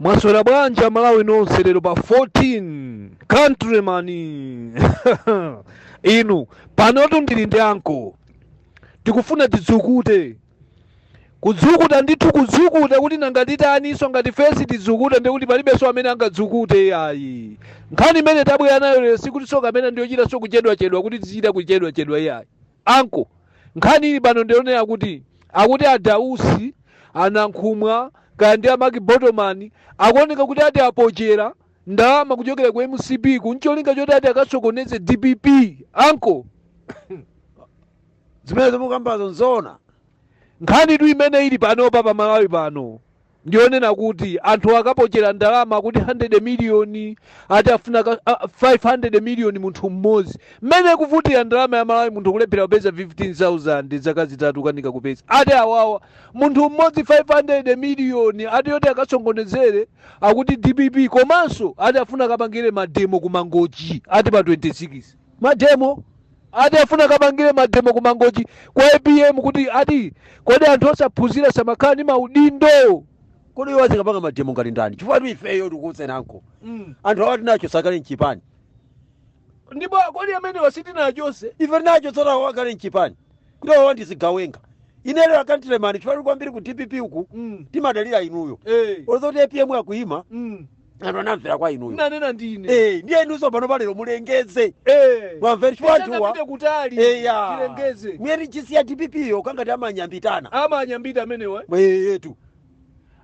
Mwaswera bwanji amalawi nonse lero pa 14 countryman inu panotu ndili ndi anko tikufuna tidzukute kudzukuta ndithu kudzukuta kuti nanga titaninso ngati fesi tidzukuta ndi kuti palibenso amene angadzukute ayi nkhani imene tabwera nayo lero sikutinso kapena ndiyochitanso kuchedwachedwa kuti tizichita kuchedwachedwa iyayi Uncle, nkhani ili pano ndiyonena kuti akuti a Dausi, a Nankhumwa, kaya ndi a Mark Botomani akuoneka kuti ati apochera ndalama kuchokera ku mcp ku ncholinga choti ati akasokoneze dpp anko zimene mukambazo nzoona nkhanitu imene ili panopa pa malawi pano ndi yonena kuti anthu akapochera ndalama akuti 100 miliyoni ati afuna ka- a- 500 miliyoni munthu mmodzi mmene kuvutira ndalama ya malawi munthu kulephera kupeza 15000 zaka zitatu kanika kupeza ati awawa munthu mmodzi 500 miliyoni ati yoti akasokonezere akuti dpp komanso ati afuna akapangire mademo ku mangochi ati pa 26 mademo Ati afuna akapangire mademo ku mangochi kwa apm kuti ati kodi anthu osaphunzira samakhala ndi maudindo. Kodi iwo azikapanga mademo ngati ndani? Chifukwatu ifeyo tikuwuzeni anko. Mm. Anthu awa tinachosa kale mchipani. Ndipo kodi amenewa sitinachose? Ife tinachotsa awa kale mchipani. Kuti awa ndi zigawenga. Inu lero a countryman chifukwatu kwambiri ku DPP uku Mm. timadalira inuyo. Eh. Olo zoti APM akuyima Mm. anthu anamvera kwa inuyo nanena ndine Eh, ndiye inunso pano palero mulengeze Eh. mwamvera chifukwa anthuwa Tisangapite kutali eya tilengeze mweri chisi ya dpp yo kangati amanyambitana amanyambita amenewa eyetu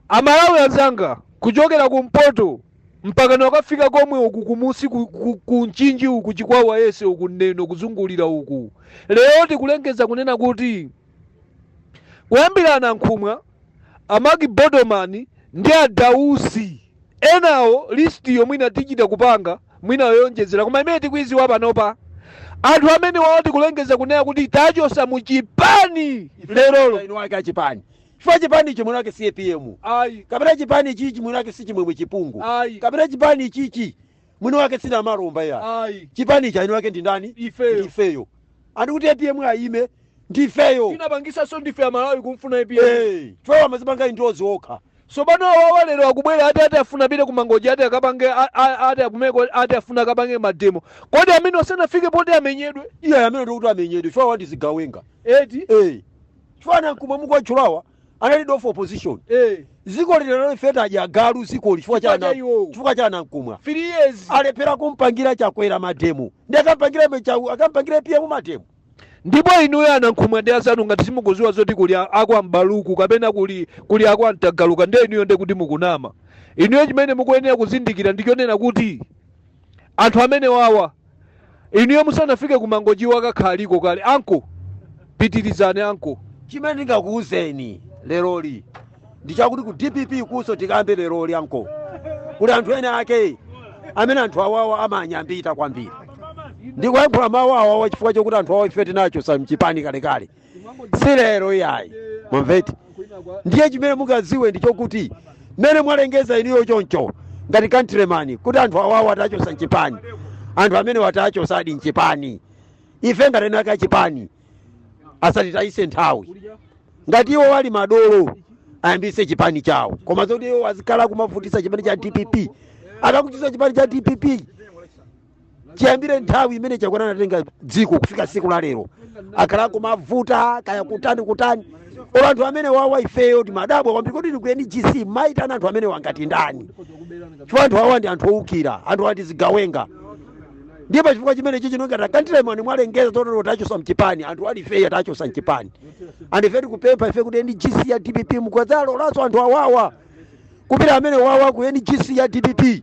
amalawi anzanga kuchokera kumpoto mpaka nakafika komwe uku kumusi ku- ku- ku mchinji uku chikwawa yese uku neno kuzungulira uku lero tikulengeza kunena kuti kuyambira anankhumwa a Mark Botomani ndi a Dausi enawo list yo mwina tichita kupanga mwina yoyonjezera koma imene tikuiziwa panopa anthu amenewawa tikulengeza kunena kuti tachosa mu chipani lerolo eni ake achipani chifukwa chipani ichi mwini wake si apm ayi kapena chipani ichichi mwini wake si chimwemwe chipungu ayi kapena chipani ichichi mwini wake si Namalomba iyayi chipani ichi eni ake ndi ndani ifeyo ndifeyo andi kuti apm ayime ndifeyo tinapangisaso ndife amalawi kumfuna apm Eh, chifukwa amazipanga endorse okha tsopano awawa lero akubwera ati ati afuna apite ku mangochi ati akapange a- a- ati akumeko ati afuna akapange mademo kodi amenewo sanafike poti amenyedwe iye amene ndikuti amenyedwe chifukwa awa ndi zigawenga eti Eh, chifukwa a nankhumwa mukuwatchulawa anali leader of opposition eh zikoli lero ife tadya galu zikoli chifukwa cha Chifukwa cha ana- iwowo. chifukwa cha anankhumwa 3 years alephera kumpangira chakwera mademo nde akampangire ife cha- akampangire APM mademo ndipo inuyo anankhumwa ndi asanu ngati simukuziwa zoti kuli a- akwa mbaluku kapena kuli kuli akwa mtagaluka ndiye inuyo ndiye kuti mukunama inuyo chimene mukuyenera kuzindikira ndichonena kuti anthu amene wawa inuyo musanafike ku mangochi akakhaliko kale anko pitirizani anko chimene ndingakuwuzeni leroli ndi chakuti ku dpp kunso tikambe leroli anko kuli anthu ene ake amene anthu awawa amanyambita kwambiri ndikuyankhula mawu awawa chifukwa chokuti anthu awa ife tinachosa mchipani kalekale si lero iyayi mwamveti ndiye chimene mungadziwe ndi chokuti mmene mwalengeza inuyo choncho ngati countryman kuti anthu awawa tachosa mchipani anthu amenewa tachosadi mchipani ife ngati eni ake achipani asatitayise nthawi ngati iwo ali madolo ayambise chipani chawo koma zoti iwo azikhala kumavutisa chipani cha dpp akukutisa chipani cha dpp chiyambire nthawi imene chakwera anatenga dziko kufika siku la lero akhala kumavuta kaya kutani kutani olo anthu amene wawa ifeyo timadabwa kwambiri kuti ku ngc mumaitana anthu amenewa ngati ndani chifukwa anthu awa ndi anthu owukira anthu awa ndi zigawenga ndiye pa chifukwa chimene chichi inu ngati countryman mwalengeza totero tachosa mchipani anthu and ifeyo tachosa mchipani and ife tikupempha ife kuti ngc ya dpp mukadzalolanso anthu awawa kupita amene wawa ku ngc ya dpp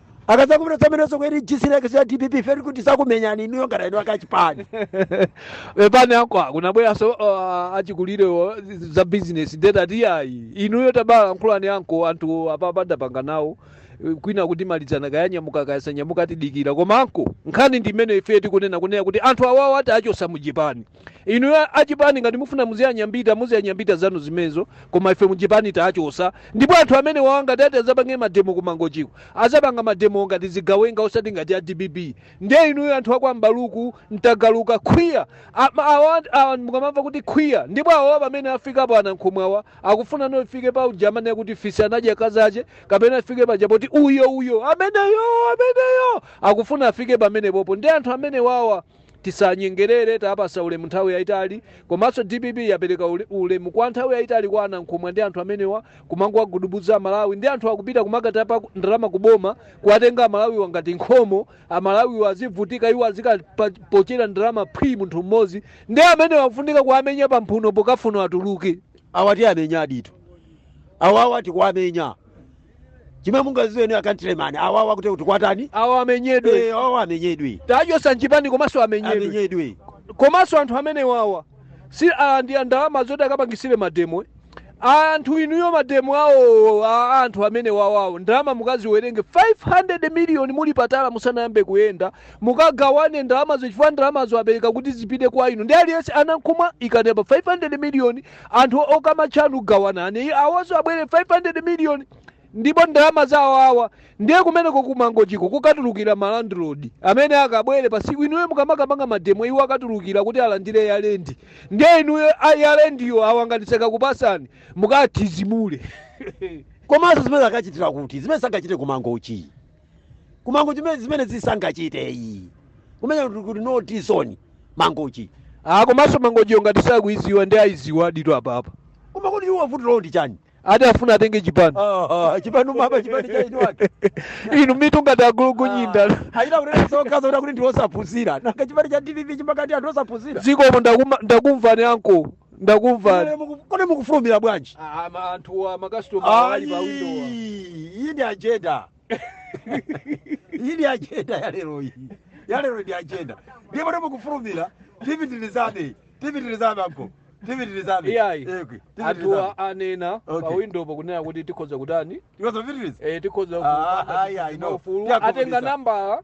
mukazapitanso zimenezo ku ngc ya dpp ife tikuti tizakumenyani inuyo ngati eni ake achipani pepani anko kunabweranso uh, achikulire wo za business ndetati iyayi inuyo tabalankhulani anko anthu apapa ndapanga nawo Eh, kwina kutimalizana kaya anyamuka kaya sanyamuka tidikira koma anko nkhani ndi imene ife tikunena kunena kuti anthu awawa tiachosa muchipani inu achipani ngati mufuna muziyanyambita muziyanyambita zanu zimenezo koma ife muchipani tachosa ndipo anthu amene wawa ngati ati azapange mademo ku mangochiko azapanga mademo ngati zigawenga osati ngati a dpp ndiye inuyo anthu akwa mbaluku mtagaluka khwiyani awa mukamamva kuti khwiya ndipo awawa pamene afikapo anankhumwa awa akufunano ifike pa uja amene kuti fisi anadya kazache kapena ifike paja poti uyo uyo ameneyo ameneyo akufuna afike pamenepopo ndi anthu amene wawa Tisanyengelele tapasa ulemu nthawi yaitali komanso dpp yapeleka ulemu kwa nthawi yaitali kwa anankhumwa ndi anthu amenewa kumangowagudubuza amalawi ndi anthu akupita kumakatapa ndalama ku boma kuwatenga amalawiwa ngati khomo amalawiwa azivutika iwo azikapochera ndalama phwii munthu mmodzi ndi amenewa akufunika kuwamenya pa mphuno chikamfuno atuluke. Awa tiamenya ndithu. Awawa tikuwamenya. chimwe mungaziwe ndi akantilemani awawa kuti kuti kuwatani awo amenyedwe Eh, awawa amenyedwe tawachosa mchipani komanso amenyedwe amenyedwe komanso anthu amene wawa si ah, ndi ndalama zoti akapangisire mademo eh. anthu inuyo mademo awo a anthu amene wawawo ndalama mukaziwerenge 500 miliyoni muli patala musanayambe kuyenda mukagawane ndalamazo chifukwa ndalamazo apereka kuti zipite kwa inu ndi aliyense amankhumwa ikanepa 500 miliyoni anthu okamatcha anu gawanani awonso abwere 500 million ndipo ndalama zawo awa ndiye kumeneko kumangochiko kukatulukira malandlord amene akabwere pa siku inuyo mukamakamanga mademo iwo akatulukira kuti alandire yalendi ndiye inuyo a- yalendiyo akangokanitseka kupasani mukathizimule komanso zimene akachite kuti zimene sangachite kumangochi kumangochi mene zimene zisangachite iyi kumenya kuti kuti no this is Mangochi Ah, komanso mangochiyo ngati sakuiziwa ndi ayiziwa aditu apapa koma kuti iwo vuto lawo ndi chani ati afuna atenge chipani Ah, chipani umaba chipani cha inu ake inu mitu ngati agulugunyinda ayita kunena sokaza kuti akuti ndiwosaphunzira nanga chipani cha dpp chimakana anthu osaphunzira zikomo ndakuma- ndakumvani anko ndakumva kodi muku- kodi mukufulumira bwanji Ah, ma- anthu a makasitoma ali pa window Ayi, iyi ndi ajenda iyi ndi ajenda ya lero iyi ya lero ndi ajenda ndipo ndi mukufulumira tipitirizabe tipitirizabe anko tipitirizabe Iyayi. Ekwe, anthu tipitirizabe a- anena pa Okay. window akunena kuti tikhoza kutani tikhoza kupitiriza Eh, tikhoza Ah, ayi, ayi, no. ufulu Tiyakhumudwitsa. atenga nambala